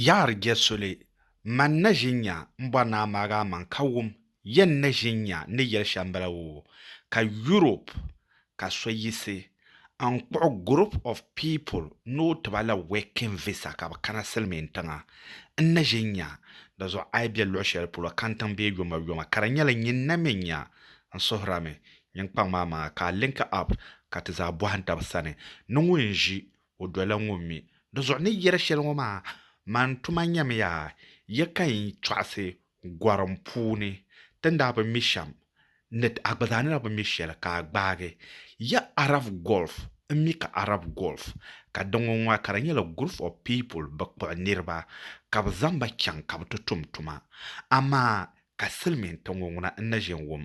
Yaɣiri jɛ soli, man na ʒin nya m-bɔri ni a maagi a maŋ ka wum yɛn ni ʒin nya n ni yɛli shɛm bala woo. Ka Europe ka so yiɣisi n-kpuɣi group of people ni o ti ba la working visa ka bɛ kana Silimiin tiŋa n ni ʒin nya di zuɣu a yi be luɣ shɛli polo kantiŋ bee yomayoma ka di nyɛla nyin na mi nya n suhirami nyin kpaŋ maa maŋa ka a link up ka ti zaa bɔhim taba sani ni ŋun ʒi O dɔla ŋun mi di zuɣu ni yɛri shɛli ŋɔ maa, Man tuma nyamiya ya ka n tɔɣisi gɔrim puuni, ti ni daa bi mi shɛm ni a gba zaa ni daa bi mi shɛli ka a gbaagi ya Arab Gulf n mi ka Arab Gulf ka di ŋɔ ŋɔ ka di nyɛla group of people bɛ kpuɣi niriba ka bɛ zaŋ ba chaŋ ka bɛ ti tum tuma amaa ka silimiintiŋ ŋɔ ŋuna n na ʒe n wum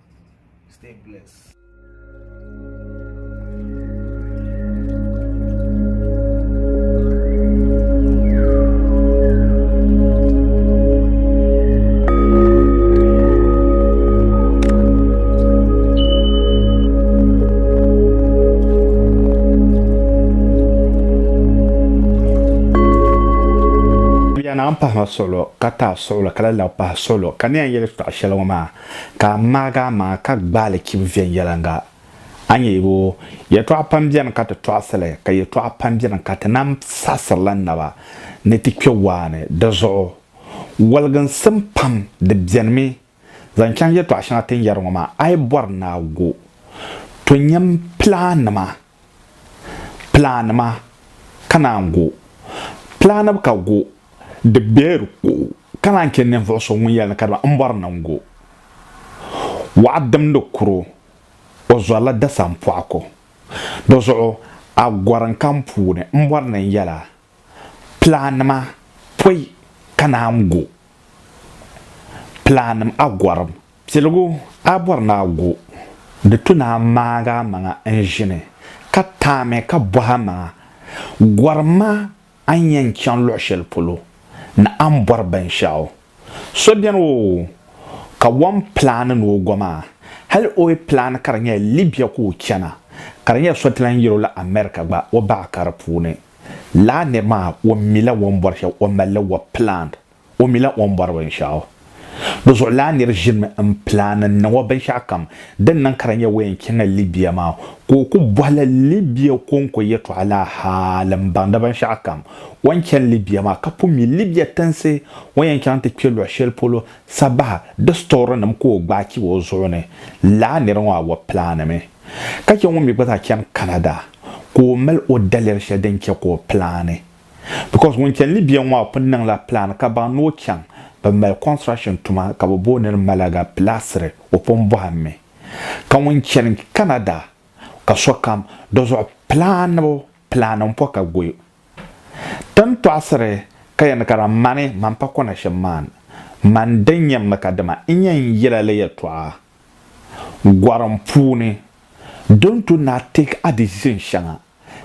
Stay blessed. na n pahi ma solo ka ta suɣula ka la la pahi solo ka ne n yɛli tɔɣa shɛli ŋɔ maa Ka a ŋmaagi a maŋa ka gbaai li chibi viɛnyɛliŋga. A nya yiko? Yɛtɔɣa pam beni ka ti tɔɣisi li, ka yɛtɔɣa pam beni ka ti nam saɣisiri li naba ni ti kpe waa ni. Di zuɣu waliginsim pam di benimi. Zaŋ chaŋ yɛtɔɣa shɛŋa ti ni yɛri ŋɔ maa, a yi bɔri ni a go, to nyam pilaannima Plan ma ka naan go. Plan bi ka go, di beer ko ka naan che ninvuɣu so ŋun yɛli ni ka di ba m bɔri ni n go. Waɣa dimdi kuro, o zɔrila dasan pɔɣa ko. Di zuɣu a gɔri n ka m puuni m bɔri ni n yɛla, Plan ma pɔi ka naan go. Plan a gɔrim Piligu a bɔri ni a gu, di tu ni a maag a maŋa n-ʒini, ka taami ka bɔh a maŋa, Gɔri ma a ni yɛn chaŋ luɣ shɛli polo ni a ni bɔri binshɛɣu. So beni o kawan pilaani ni o go maa, hali o yi pilaani ka di nyɛla Libya ka o chana, ka di nyɛla so ti lan yɛl o la America gba, o baɣa ka di puuni. Lala nir maa, o mila o ni bɔri shɛl, o mali li wa pilaand. O mila o ni bɔri binshɛɣu. Di zuɣu lala nir ʒinimi m-pilaani n-niŋ o binshɛɣu kam din niŋ ka di nya o yɛn chaŋla Libia maa, ka o ku bɔhila Libia kɔŋko yɛtɔɣa laa hal m-baŋ di binshɛɣu kam. O ni chani Libia maa ka pun mi Libia tinsi o ni yɛn chaŋ ti kpe luɣ shɛli polo sabaha di sitɔɔrinim ka o gbaai chibi o zuɣu ni. Lala nir ŋɔ awɔbi pilaanimi ka chɛ ŋun mi gba zaa chani Canada ka o mali o daliri shɛli din chɛ ka o pilaani. because ŋun chani ni bia ŋɔ pun niŋ la plan ka baŋ ni o chaŋ bɛ mali construction tuma ka bɛ booniri Malaga pilaasiri o pun bɔhim mi ka ŋun chani Canada ka sokam dizuɣu planibu plan n po ka goyo tin tɔɣisiri ka yɛn ka daa mani man pa kɔna shɛm maan man din yɛn mi ka dima n yɛn yela li yɛltɔɣa Gɔrim puuni, Don't to na take a decision shɛŋa,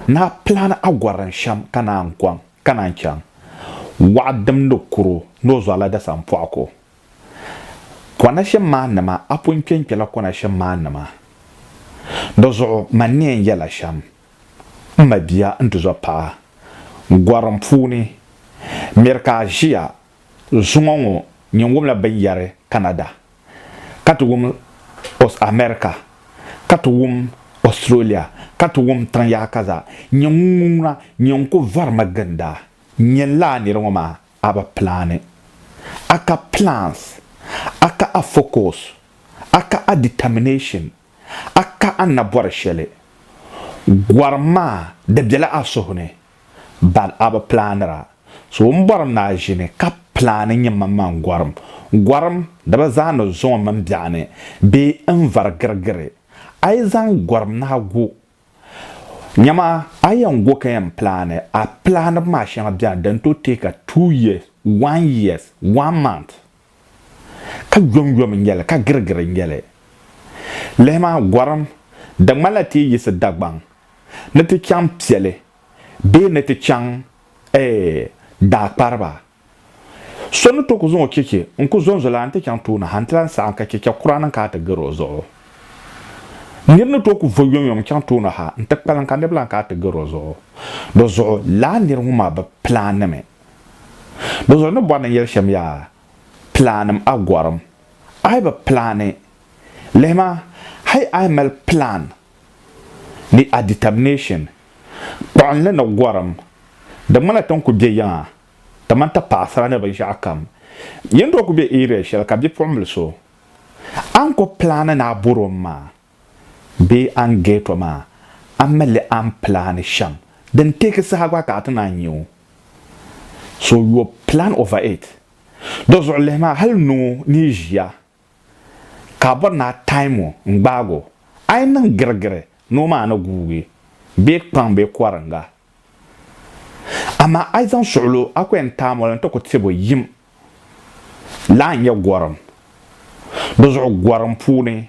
na plan a gɔrin shɛm ka naan kɔŋ, ka naan chaŋ. Waɣa dimdi kuro ni o zɔrila dasan pɔɣu ko. Kɔna shɛm maa nima, a pun kpenkpela kɔna shɛm maa nima. Di zuɣu man ni yɛn yɛla shɛm, m mabia n tizɔ paɣa. Gɔrim puuni, Miri ka a ʒiya zuŋɔ ŋɔ nyin wumla binyɛri Canada. ka ti wum Os America, ka ti wum Australia, ka ti wum tiŋ yaɣa ka zaa. Nyɛ ŋun ŋuna, nyɛ n ku vari ma ginda. Nyɛ n laa nira ŋɔ maa, a bi plaani. A ka plans, a ka a focus, a ka a determination, a ka a ni bɔri shɛli. Gɔrim maa di bela a suhu ni, ban a bi plaanira. So o ni bɔri m maa ʒini ka plaani nyɛ man man gɔrim gɔrim di bi zaani zuŋɔ mini biɛɣu ni bee n vari girigiri. A yi zaŋ gɔrim nahi gu nyama a yɛn go ka yɛn plaani a plaanibu maa shɛŋa bɛni din tooi take a two years, one years, one month ka yomyom n-nyɛ li, ka girigiri n-nyɛ li. Lihi ma, gɔrim, di ŋmanila ti yi yiɣisi Dagbaŋ ni ti chaŋ Piɛli bee ni ti chaŋ, ɛɛh, Daakpariba, so ni tooi ku zaŋ o cheche n-ku zonzolana nti chaŋ tooni ha nti lan saɣim ka cheche kura niŋ ka a ti gari o zuɣu. Nir ni tooi ku vo yomyom n-chaŋ tooni ha nti kpalim ka niriba lan ka a ti gari o zuɣu. Di zuɣu, lala nir ŋɔ maa bi pilaannimi. Bɛ zuɣu ni bɔri ni yɛli shɛm yaa pilanim a gɔrim a yi bi pilani lihima hali a yi mali pilan ni a determination kpuɣinli ni gɔrim di ŋmanila ti ni ku be yiŋa kamani ti paɣisira ni binshɛɣu kam yin doo ku be area shɛli ka bipuɣimbili so a ni ku pilani ni a bɔri o ni maa Bee an geeto maa, a mi li an pilaani shɛm din teeki saha gba ka a ti naan nya o? So your plan over it. Do zuɣu lihi maa hali ni o ni yi ʒiya ka a bɔri ni a time o n-gbaag o, a yi niŋ girigiri ni o maa a ni guugi bee kpaŋ bee kɔringa. Amaa a yi zaŋ suɣilo a ko yɛn time o la n-ti ku tib o yim la a ni nya gɔrim. Di zuɣu gɔrim puuni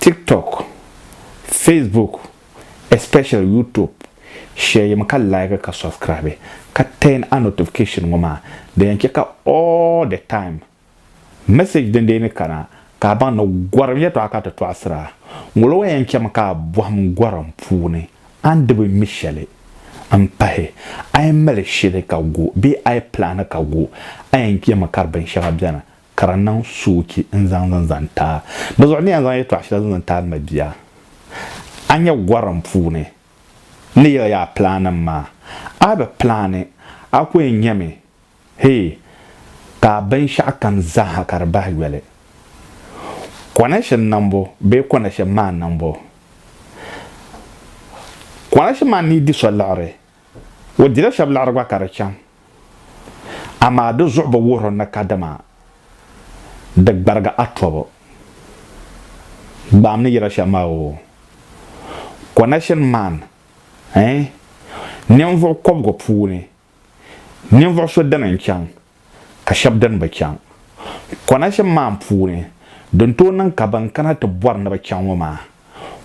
TikTok, Facebook especially YouTube share yim ka like ka subscribe ka turn a notification ŋɔ maa di yɛn chɛ ka all the time message din dee ni kana ka a baŋ ni gɔrim yɛtɔɣa ka ti tɔɣisira. Ŋɔlo wa yɛn chɛmi ka a bɔhim gɔrim puuni a ni di bi mi shɛli m pahi a yi mali shili ka go bee a yi plani ka go a yɛn chɛmi ka di binshɛŋa beni ka di niŋ soochi n zaŋ din zaŋ taai. Dizuɣu n ni yɛn zaŋ yɛtɔɣ shɛli zaŋ zaŋ taai n ma bia. A nya gorim puuni n ni yɛli ya a pilaanim maa. A bi pilaani, a ku yɛn nyami hee ka a binshɛɣukam zaaha ka di bahi yoli. Connection niŋbu bee connection maa niŋbu? Connection maa ni yi di so liɣiri. O dila shɛba liɣiri gba ka di chaŋ, amaa di zuɣu bi wuhiri ni kadama di gbarigi a tɔbu. Gbaam ni yɛla shɛm maa oo, connection man eh, ninvuɣ kɔbigu puuni ninvuɣ so dini n-chaŋ. ka shɛb din bi chaŋ konashim maa n puuni din tooi niŋ ka ban kana ti bɔri ni bɛ chaŋ ŋɔ maa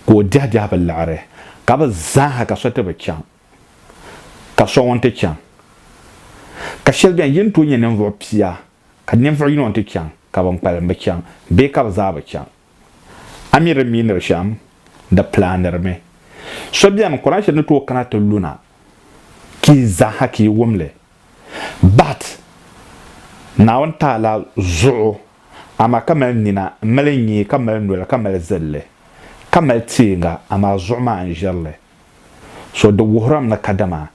ka o diɛhi diɛhi bi liɣiri ka bɛ zaaha ka so ti bi chaŋ ka so ŋun ti chaŋ ka shɛli beni yi ni tooi nyɛ ninvuɣ pia ka ninvuɣ yino n ti chaŋ ka ban kpalim bi chaŋ bee ka bɛ zaa bi chaŋ a mi di miiniri shɛm di pilaanirimi so beni konashim ni tooi kana ti luna ka yi zaaha ka yi wum li But, Naawuni taala zuɣu, amaa ka mali nina, m-mali nyee, ka mali noli, ka mali zilli, ka mali teeŋa, amaa zuɣu maa n-ʒiri li. So di wuhirim ni kadama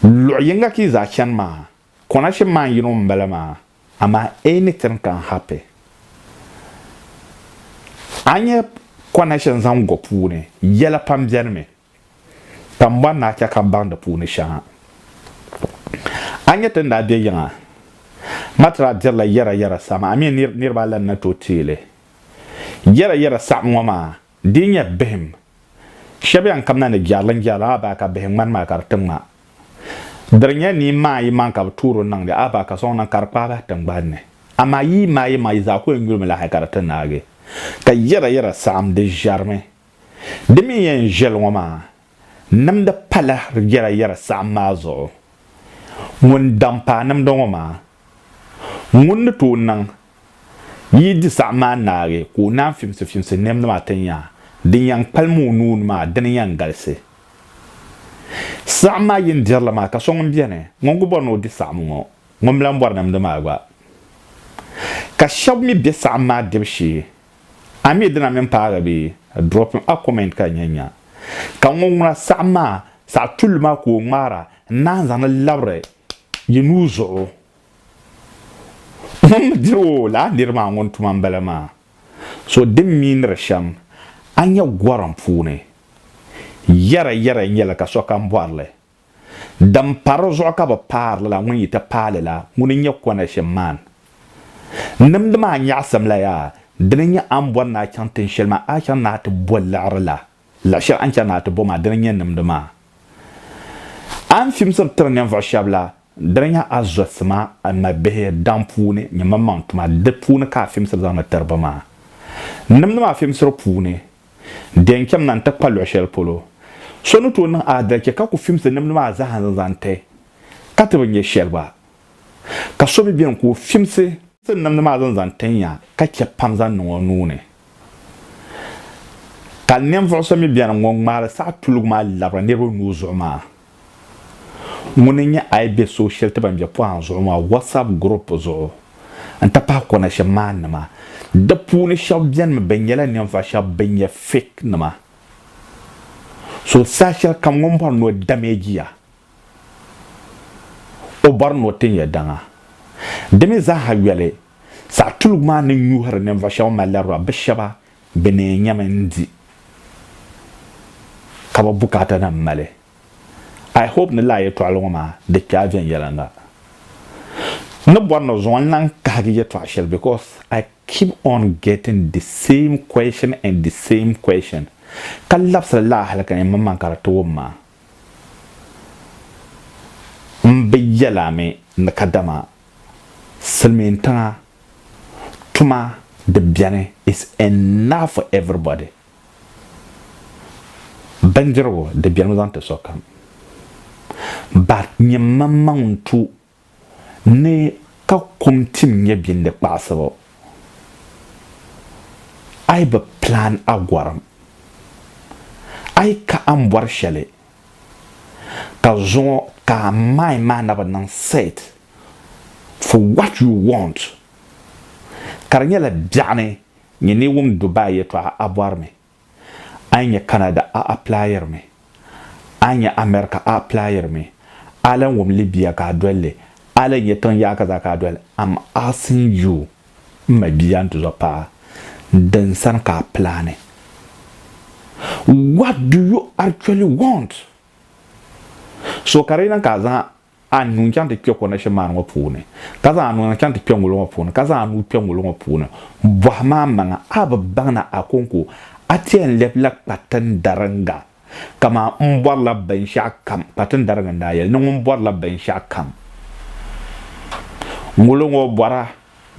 luɣ yiŋga ka yi zaa chani maa, connection maa n-yino m-bala maa, amaa anything can happen. A nya connection zaŋ go puuni, yɛla pam benimi. ka m bɔri ni a chɛ ka m baŋ di puuni shɛŋa. A nya ti ni daa be yiŋa Matra dirila yɛrayɛra saɣim a mi ni niriba a lan na tooi teei li. Yɛrayɛra saɣim ŋɔ maa dii nyɛ bihim shɛb yɛn kamina ni jɛrilinjɛrili a baa ka bihi ŋmani maa ka di ti ŋma. Di di nyɛ nii maayimaŋ ka bɛ toori niŋdi a baa ka sɔŋ niŋ ka di kpaai bahi tiŋgbani ni. Amaa yii maayimaŋ yi zaa ku yɛn yulimi lahi ka di ti naagi. Ka yɛrayɛra saɣim di ʒɛrimi Di mi yɛn viɛli ŋɔ maa, nimdi pala yɛra yɛra saɣim maa zuɣu. Ŋun daŋ paai nimdi ŋɔ maa, ŋun ni tooi niŋ yi di saɣim maa naagi ka o naan fimsi fimsi nimdi maa ti nya din yɛn kpalim o nuu ni maa, dini yɛn galisi. Saɣim maa yi ni dirili maa ka so ŋun beni ŋun ku bɔri ni o di saɣim ŋɔ, ŋun mi lan bɔri nimdi maa gba. Ka shɛba mi be saɣim maa dibu shee A mi dina mini paagi bee? Drop a comment ka nya nya ka ŋun ŋuna saɣim maa saɣi tulli maa ka o ŋmaara n naan zaŋ li labiri yi nuu zuɣu. Ŋun mi diri o laa niri maa ŋun tuma m-bala maa. So din mi niri shɛm a nya gorim puuni, yɛra yɛra nyɛli ka sokam bɔri li. Din pa di zuɣu ka bɛ paari lala ŋun yi ti paai li la, ŋuni n-nyɛ Konashim man. N nimdi maa nyaɣisimla yaa, dini n-nyɛ a ni bɔri ni a chaŋ tin shɛli maa a chaŋ ni a ti bo liɣiri la, liɣ shɛli a ni chani ni a ti bo maa, dini n-nyɛ n nimdi maa. A ni fimsiri tiri ninvuɣ shɛb la, dini n-nyɛ a zɔsi ma, a mabihi, daŋ puuni, nyin mini maŋ tuma, di puuni ka a fimsiri zaŋdi tiri ba maa. N nimdi maa fimsiri puuni, di yɛn chɛmi na n-ti kpa luɣ shɛli polo so ni tooi niŋ aadalichi ka ku fimsi nimdi maa zaa n-zaŋ ti, ka ti bi nya shɛli gba. Ka so bi beni ka o fimsi. Nimdi maa zaa n-zaŋ ti nya ka chɛ pam zaŋ niŋ o nuu ni. Ka ninvuɣ so mi beni ŋun ŋmaari saha tuligu maa labiri niriba nuu zuɣu maa. Ŋuni n-nyɛ a yi be so shɛli ti ban be pɔhim zuɣu maa WhatsApp group zuɣu n-ti pahi connection man nima. Di puuni shɛba benimi bɛ nyɛla ninvuɣ shɛba bɛn nyɛ fake nima. So saha shɛli kam ŋun bɔri ni o damage ya, o bɔri ni o tin ya daŋa. Di mi zaa ha yoli, saɣ tuligu maa ni nyuhiri ninvuɣ shɛba mallarua bɛ shɛba Bɛ ni nyɛmi n-di ka bɛ bukaatanima mali. I hope ni lala yɛtɔɣili ŋɔ maa di kpe a viɛnyɛliŋga. N ni bɔri ni zuŋɔ n-lahi kahigi yɛtɔɣa shɛli because I keep on getting the same question and the same question ka labisiri lala hali ka nyɛ mmaŋmaŋ ka di ti wum ma. M bi yɛl a mi ni kadama silimiintiŋa tuma di beni is enough for everybody. Bindirigu di benimi zaŋ ti sokam but nyɛ m maŋmaŋ n-tu ni ka kum tim nyɛ bɛ ni kpaɣisibu, a yi bi plan a gɔrim, a yi ka a ni bɔri shɛli, ka zuŋɔ ka a mind maa na bi niŋ set for what you want, ka di nyɛla biɛɣuni nyɛ ni wum Dubai yɛtɔɣa a bɔri mi. a yi nya Canada a aplayiri mi, a yi nya America a aplayiri mi, a lan wum Libya ka a doli li, a lan nya tiŋ yaaka zaa ka a doli, am asking you m mabia ntizɔr paɣa, din sani ka a plani? What do you actually want? So ka di yi niŋ ka a zaŋ a nuu n-chaŋ ti kpe kɔnashini maa ni ŋɔ puuni, ka zaŋ a nuu n-chaŋ ti kpe ŋuli ŋɔ puuni, ka zaŋ a nuu kpe ŋuli ŋɔ puuni, bɔhi ma amaŋa, a bi baŋ ni Akonko a ti yɛn lɛbila Kpatindariŋga? Kaman m bɔrila binshɛɣu kam, Kpatindariŋga n-daa yɛli ni ŋun bɔrila binshɛɣu kam. Ŋuli ŋɔ bɔra,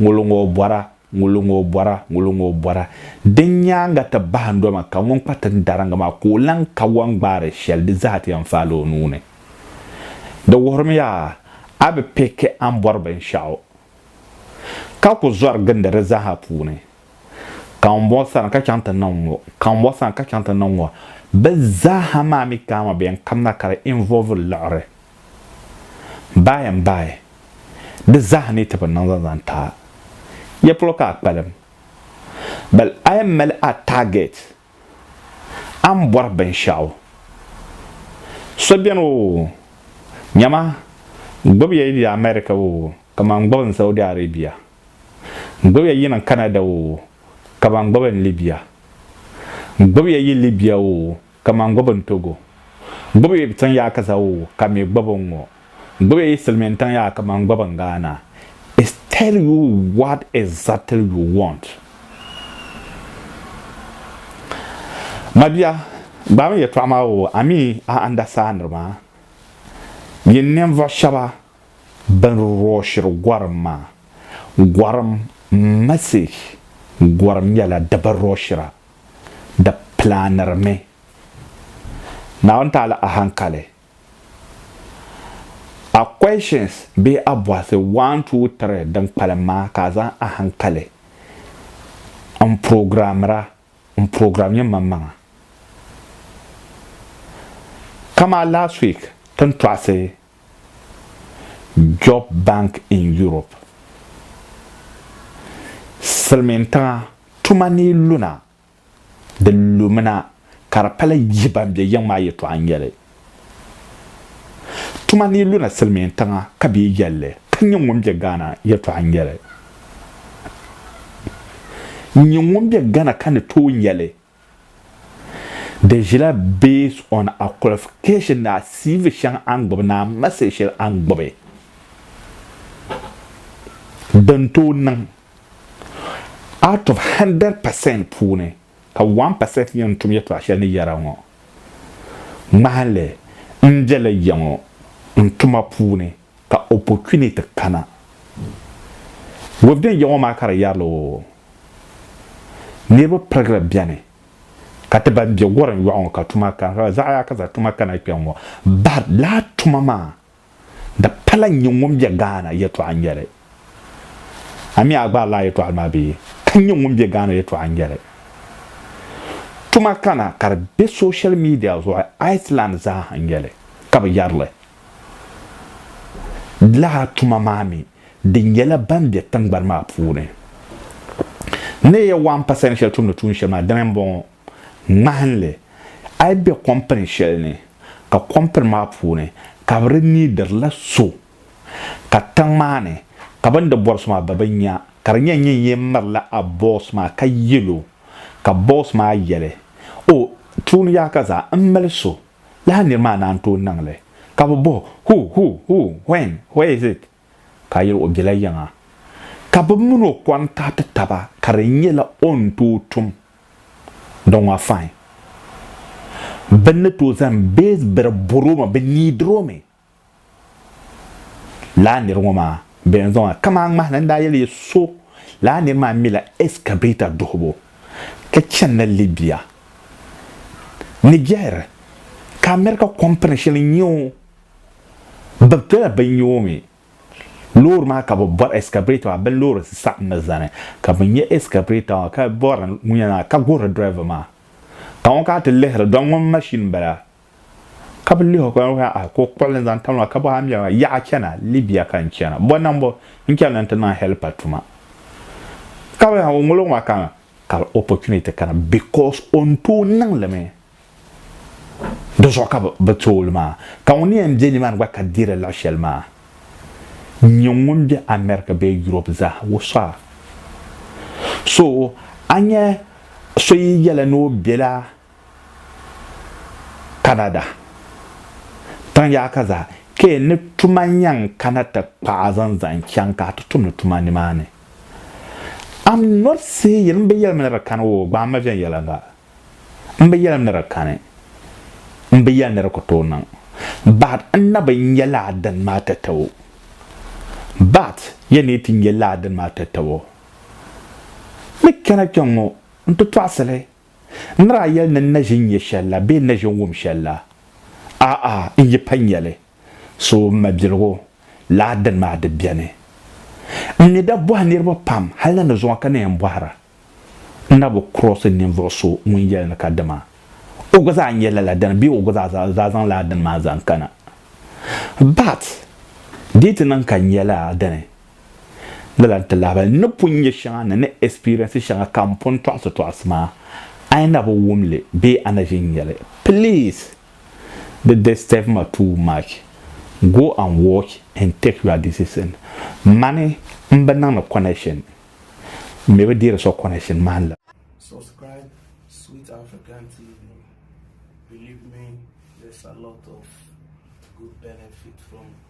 ŋuli ŋɔ bɔra. Ŋuli ŋɔ bɔra, ŋuli ŋɔ bɔra. Din nyaaŋa ti bahi ndoma ka ŋun kpa tin dariŋgi maa ka o lan kawɔŋ gbaari shɛli di zaa ti yɛn faali o nuu ni. Di wuhirimi yaa a bi pɛki a ni bɔri binshɛɣu ka ku zɔri gindi di zaaha puuni. Kambɔŋ sani ka chaŋ ti niŋ ŋɔ, kambɔŋ sani ka chaŋ ti niŋ ŋɔ. Bɛ zaaha maa mi kaama bɛn kamina ka di involve liɣiri. Bayi n bayi. Di zaa ni ti bi niŋ zaŋ zaŋ taai ya polo ka a kpalim. Bal a yɛn mali a target, a ni bɔri binshɛɣu. So beni oo, nyama n gbubi ya yi be America oo, kaman n gbubi n Saudi Arabia. N gbubi ya yi niŋ Canada oo, kaman n gbubi n Libya. N gbubi ya yi Libya oo, Kaman gbubi n togo. Gbubi yi btiŋ yaa ka zawu ka mi gbubi n ŋo. Gbubi yi silmin tiŋ yaa ka man gbubi n Ghana. Is tell you what exactly you want. Mabia gbaami yɛtɔɣa maa o a mi a andasaaniri maa. Yin ninvuɣu shɛba bɛn rɔɔshiri gɔrim maa, gɔrim message gɔrim nyɛla di bi rɔɔshira di pilaanirimi Naawuni taali ahankali. A questions bee a bɔhisi one, two, three din kpalim maa ka a zaŋ ahankali n programmira n program nyɛ manmaŋa. Kamaa last week ti ni tɔɣisi. Job Bank in Europe, Silimiintiŋa tuma ni luna di lumina ka di pali yihi ban be yiŋ maa yɛltɔɣa n-nyɛli. Tuma ni luna Silimiintiŋa ka bɛ yi yɛli li ka nyin ŋun be Ghana yɛltɔɣa n-nyɛli. Nyin ŋun be Ghana ka ni tooi nyɛli Di ʒila based on a qualification ni a CV shɛŋa a ni gbubi ni a message shɛli a ni gbubi din tooi niŋ out of 100 percent puuni ka 1 percent nyɛ ŋun tum yɛltɔɣa shɛli ni yɛra ŋɔ ŋmahinli n bela ya ŋɔ n tuma puuni. Ka opportunity kana. Wibden yiŋɔ maa ka di yɛrila o niriba pirigili beni ka ti ban be wurin yɔɣu ŋɔ ka tuma kana ka zaɣi yaa ka za tuma kana kpe ŋɔ bahi laa tuma maa di pala n-nyɛ ŋun be Ghana yɛtɔɣa n-nyɛli. A mi a gbaari laa yɛtɔɣili maa bee? Ka n-nyɛ ŋun be Ghana yɛtɔɣa n-nyɛli. Tuma kana ka di be social media zuɣu Iceland zaa ha n-nyɛli ka bi yɛrili. lala tuma maa mi di nyɛla ban be tingbani maa puuni. Neeya wan pa sayin shɛli tumdi tuun shɛli maa, dini m-bɔŋɔ, ŋmahinli. A yi be kɔmpini shɛli ni, ka kɔmpini maa puuni ka bɛ di niidirila so, ka tiŋ maa ni ka bɛ ni di bɔri so maa bɛ bi nya, ka di nyɛ nyin yɛn mirila a bɔs maa ka yɛl o, ka bɔs maa yɛli, O, tuun yaha ka zaa, m mali so. Lala nir maa naan tooi niŋ li, ka bɛ bɔh o, Who, who, who, when, where is it? Ka a yɛl o bela yiŋa. Ka bɛ min o kɔŋ ka ti taba ka di nyɛla o ni tooi tum di ŋɔ fain. Bɛ ni tooi zaŋ base biri bɔr o mi, bɛ neediri o mi. Laa nir ŋɔ maa bɛ ni zaŋ a kaman a ŋmahi ni n daa yɛli ya so, laa nir maa mila excavator duhibu ka chanila Libya ni jɛhiri ka America kɔmpini shɛli n-nyɛ o. Bɛ bela bɛ nya o mi. Loori maa ka bɛ bɔri excavator maa bɛ loori saɣim mi zani ka bɛ nya excavator maa ka bɔri ŋun yɛn niŋ a ka guhiri driver maa ka ŋɔ ka a ti lihiri dɔn ŋɔ machine m-bala. ka bi lihi ka ka ah, ko kpuɣili n zaŋ tam la ka bɔ a mɛra yaɣa chana Libya ka n chana bɔ nambo n chana n ti niŋ helper tuma ka bi o ŋolo maa ka ka opportunity kana because o n tooi niŋ limi di zuɣu ka bi tooli maa ka ŋun yɛn bɛ nimaani gba ka deeri laɣa shɛli maa nyɛ ŋun bɛ America bee Europe zaa o sɔra so a nyɛ so yi yɛla ni o bɛla Canada tiŋ yaɣa ka zaa ka yɛn ni tuma yɛn kana ti kpaai zaŋ zaŋ chaŋ ka a ti tumdi tuma nimaani. I'm not saying m bi yɛlim ni di kani woo, gbaai ma viɛnyɛliŋga. M bi yɛlim ni di kani, m bi yɛli ni di ku tooi niŋ, but n na bi nya lala dini maa tatabo. But ya ni yi ti nya lala dini maa tatabo, ni kpɛna kpɛŋŋo n ti tɔɣisi li. N ni daa yɛli ni n na ʒi n-nya shɛli la bee n na ʒi n-wum shɛli la? A'a, n yi pa nya li, so m mabiligu laa dini maa di beni. N ni daa bɔhi niriba pam hal ni ni zuŋɔ ka ni yɛn bɔhira, n na bi kurɔsi ninvuɣ so ŋun yɛli ni ka dama o gba zaa nyɛla la dini bee o gba zaa zaŋ la dini maa zaŋ kana. But di yi ti niŋ ka n nya la dini lala n-ti lahibali ni pun nya shɛŋa ni ni experience shɛŋa ka m pun tɔɣisi tɔɣisi maa, a yi na bi wum li bee a na ʒi n-nya li, please di disturb ma too much, go and watch and take your decision. Mani m bi niŋdi connection, m mi bi deeri so connection maa n-liri. Subscribe Sweet African TV, believe me there's a lot of good benefit from